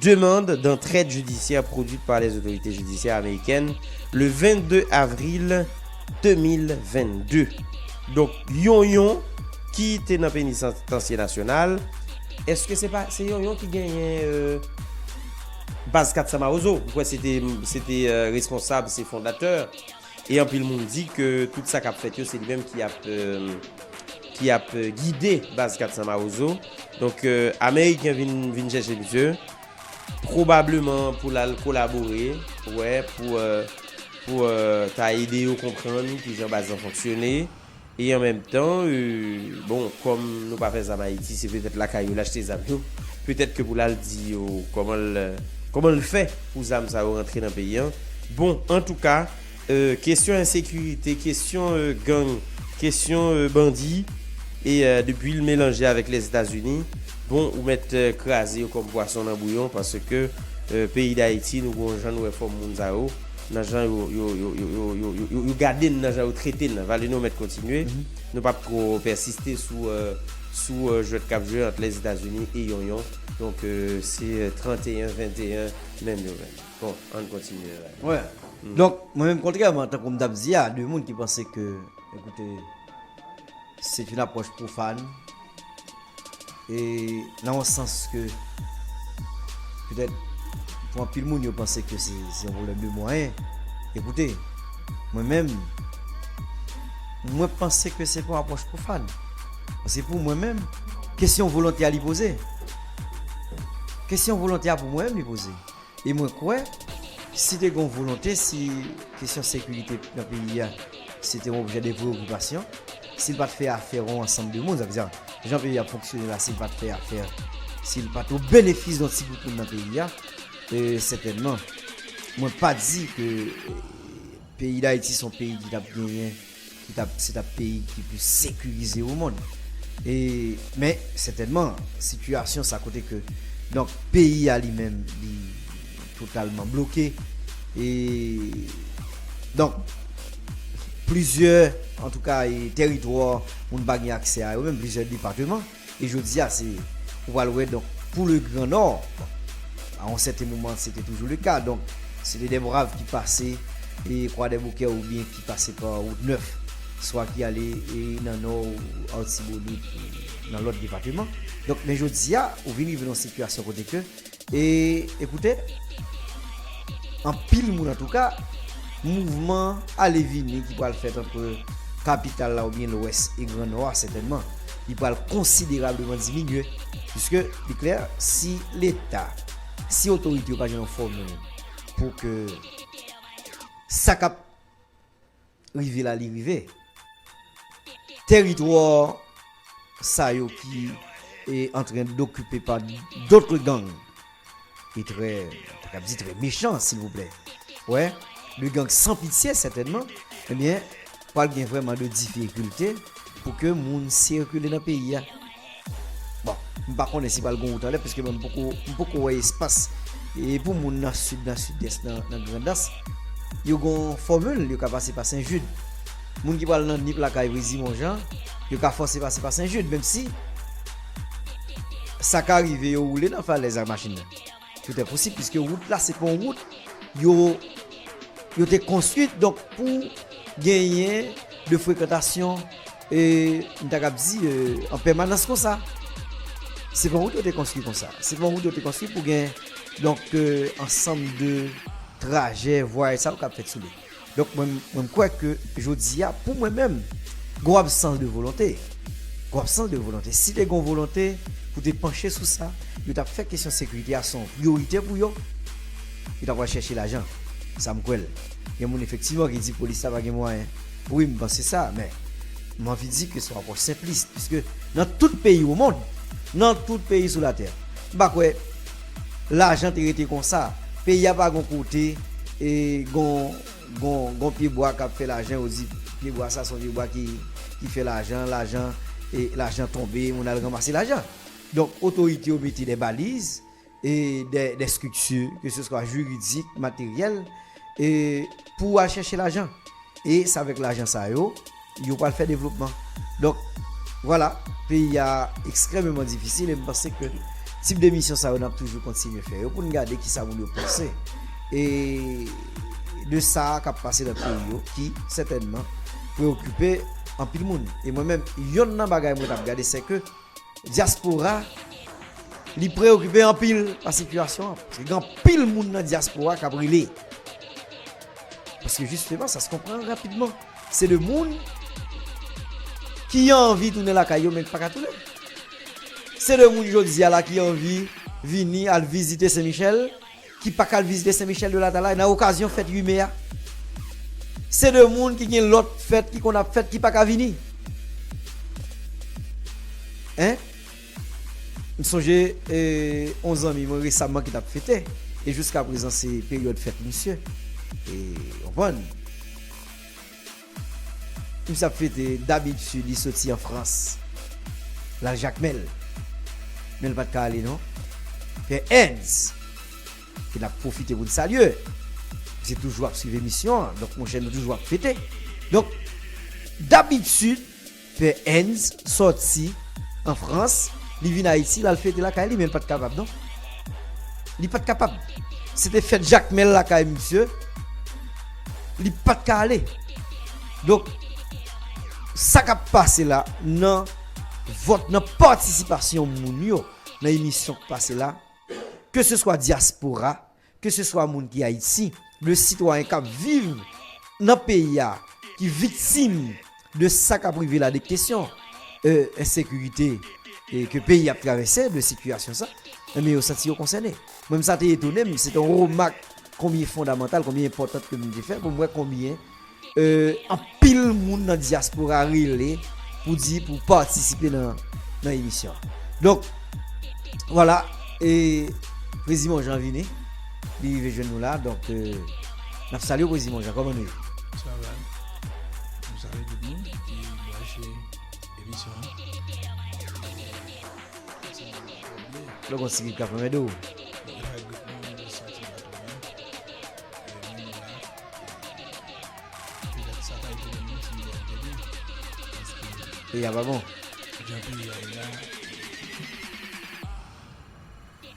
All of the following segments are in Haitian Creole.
Demand dantrèd jidisyè pwodwit pa lè zotorite jidisyè amerikèn le 22 avril 2022. Donk Yonyon ki te nan Penitansye Nasyonal, eske se pa se Yonyon ki genyen Baz 400 Mawozo, mkwè se te se te responsab, se fondatè. E anpil moun di ke tout sa kap fèt yo se li menm ki ap ki ap gide baz 400 mawozo. Donk ameriken vin vin chèche misye pwobableman pou l al kolabore wè pou pou ta ede yo konprann kijan baz lan fonksyone. E an menm tan, bon, kòm nou pa fè zam Ayiti, se petèt lakay yo l achte zam yo. Petèt ke pou l al di yo kòman l kòman l fè pou zam sa yo rantre nan peyi an. Bon, antouka, kesyon ensekirite, kesyon gang, kesyon bandi, e depi l melanje avèk Lèzetazini, bon, ou mèt kraze yo kòm pwason nan bouyon paske peyi Dayiti nou gen yon jan nou wè fòm moun sa yo. nan jan yo yo gade n nan jan yo trete n nan vale nou mèt kontinye nou pap ko pèsiste sou sou jwèt kap jwe ant lèzetazini e yon yon donk se 31 21 menm yo menm bon ann kontinye wè donk mwen menm kontrèman tankou m tap di a de moun ki panse ke ekoute. Se t yn apwòch pwofàn e nan yon sans ke petèt pou anpil moun yo panse ke se yon pwoblèm de mwayen. Ekoute, mwen menm, mwen panse ke se pa yon apwòch pwofàn. Paske pou mwen menm, kesyon volonte a li poze. Kesyon volonte a pou mwen menm li poze. E mwen kwè si te gen yon volonte, si kesyon sekirite nan peyi a se te yon objè de preyokipasyon, si l pa t fè afè yon ansanm de moun, sa vle di jan peyi a ap fonksyone la, si l pa t fè afè, si l pa t o benefis yon ti gwoup moun nan peyi a, sètènman mwen pa di ke peyi Dayiti se yon peyi ki t ap genyen. Ki ta se ta peyi ki plis sekirize omonn. E men sètènman sitiyasyon sa kote ke donk peyi a li menm li totalman bloke e donk plizyè antouka e tèritwa moun pa gen aksè a yo menm plizyè depateman. E jodia se ou pral wè donk pou le gran nò a yon sèten moman se te toujou le ka donk se te dè brav ki pase e kwadèboukè ou byen ki pase pa wout nèf swa ki ale e nan nò ou artibonit ou nan lòt depateman donk men jodia ou vin rive nan yon sitiyasyon kote ke E ekoute, anpil moun antouka, mouvman ale vini ki pral fèt antre kapital la oubyen lwès e gran nò a sètènman li pral konsiderableman diminye piske li klè si leta, si otorite yo pa jwenn yon fòmil pou ke sa k ap Rive la li rive. Teritwa sa yo ki e antren dokipe pa dotre gang. E trè, ta kap di trè mechan silvouplè. Wè, de gang san pitye sètènman. Ebyen, pral gen vrèman de difikilte pou ke moun sikile nan peyi a. Bon, m pa konnen si pral gon wout anlè paske mwen m poko m poko wè espas e pou moun nan sid nan sidès nan nan grandans yo gon fòmil yo ka pase pa sen jid moun ki pral nan nip lakay rizi monjan yo ka fòse pase pa sen jid menm si sa ka rive yo woule nan falèz ak machin nan. Tout est possible puisque route la se pa yon route yo yo te konstwi donk pou genyen de frekantasyon m ta kab di an pèmanans konsa. Se pa yon route yo te konstwi konsa. Se pa yon route yo te konstwi pou gen donk ansanm de trajè, vwayaj sa yo k ap fèt sou li. Donk mwen mwen m kwè ke jodi a pou mwen menm gon absans de volonte. Gon absans de volonte. Si te gon volonte pou te panche sou sa, yo t ap fè kesyon sekirite a se yon priyorite pou yo, yo t ap al chèche lajan. Sa m kwè l. Gen moun efektivman ki di polis la pa gen mwayen. Wi m panse sa, men m anvi di ke se yon apwòch senplis. Piske nan tout peyi o mond, nan tout peyi sou latè, m pa kwè. Lajan te rete konsa. Peyi a pa gon kote e gon gon pye bwa kap fè lajan yo di pye bwa sa son pye bwa ki ki fè lajan lajan e lajan tonbe moun al ranmase lajan. Donk otorite yo mete dè baliz e dè dè strikti ke se swa jiridik materyèl E pou ou al chèche lajan. E se avèk lajan sa yo, yo pral fè devlopman. Donk, vwala, peyi a ekstrèmeman difisil e m panse ke tip de emisyon sa yo n ap toujou kontinye fè yo pou n gade ki sa moun yo panse e de sa k ap pase nan peyi yo ki sètènman preyokipe anpil moun. E mwen menm, yonn nan bagay mwen t ap gade sèke. dyaspora li preyokipe anpil pa sitiyasyon an. Paske gen anpil moun nan dyaspora k ap rele. Paske jisteman sa se konprann rapidman. Se de moun ki anvi tounen lakay yo men ki pa ka tounen. Se de moun jodi a la ki anvi vini al vizite Sen Michèl. ki pa k al vizite Sen Michèl de Latalay nan okazyon fèt 8 me a, se de moun ki gen lòt fèt ki konn ap fèt ki pa ka vini. Hein? M sonje yon zanmi mwen resamman ki t ap fete, e jiskaprezan se peryòd fèt misye. Ou konprann? Tibs ap fete dabitid li soti an frans lal jakmel men li pat ka ale non pè Ernz ke nap pwofite poun salye misye toujou ap swiv emisyon an donk monchè nou toujou ap fete donk dabitid Fè Ernst sòti an Frans, li vin Ayiti, l al fete lakay li men l pa t kapab non. Li pa t kapab. Se te fèt Jakmèl lakay misye, li pa t ka ale. Donk, sa k ap pase la nan vòt, nan patisipasyon moun yo nan emisyon k pase la, keseswa dyaspora, Ke se swa moun ki Ayiti, de sitwayen kap viv nan peyi a ki viktim de sa kap rive la de kesyon ensekirite ke peyi ap travèse de sitiyasyon sa, enben yo santi yo konsène. Mwen menm sa te etone m, se te yon remak konbyen fondamantal, konbyen enpòtant ke m te fè pou m wè konbyen. Anpil moun nan diaspora rele pou di pou patisipe nan emisyon. Donk, wala, e Prezi Monjan vini, li rive jwenn nou la, donk, nap salye Prezi Monjan, kòman nou ye? Sa va, nou salye tout moun ki branche emisyon an. Lè gon ti grip kap anmède w. Lè gon ti grip kap anmède w. Peyi a pa bon. Jan peyi a ye la,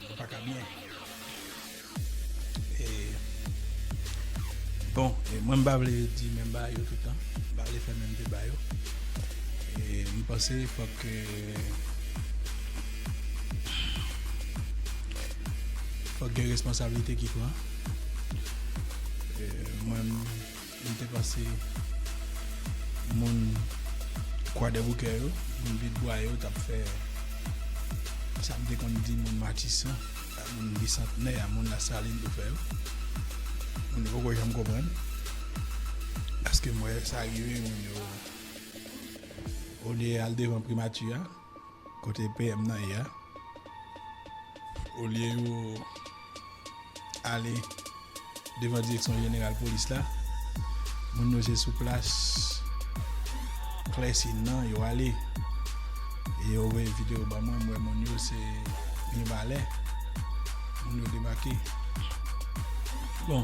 li pa ka byen. E, bon, e mwen m pa vle di menm bagay yo tout tan. M pa vle fè menm deba yo. E, m panse fòk ke, fòk gen responsablite ki pran. Mwen m te panse moun Kwadèboukè yo, moun Pyetbwa yo t ap fè sa m te konn di moun Matisan ak moun Bisantnè a, moun Lasalin yo fè yo. Moun yo poko janm konprann paske m wè sa rive moun yo olye y al devan Primati a. Kote PM nan ye a? Olye yo ale devan direksyon jeneral polis la, moun yo se sou plas Clessie nan yo ale. E yo voye video ban mwen, m wè moun yo se Mirebalais moun yo debake. Bon.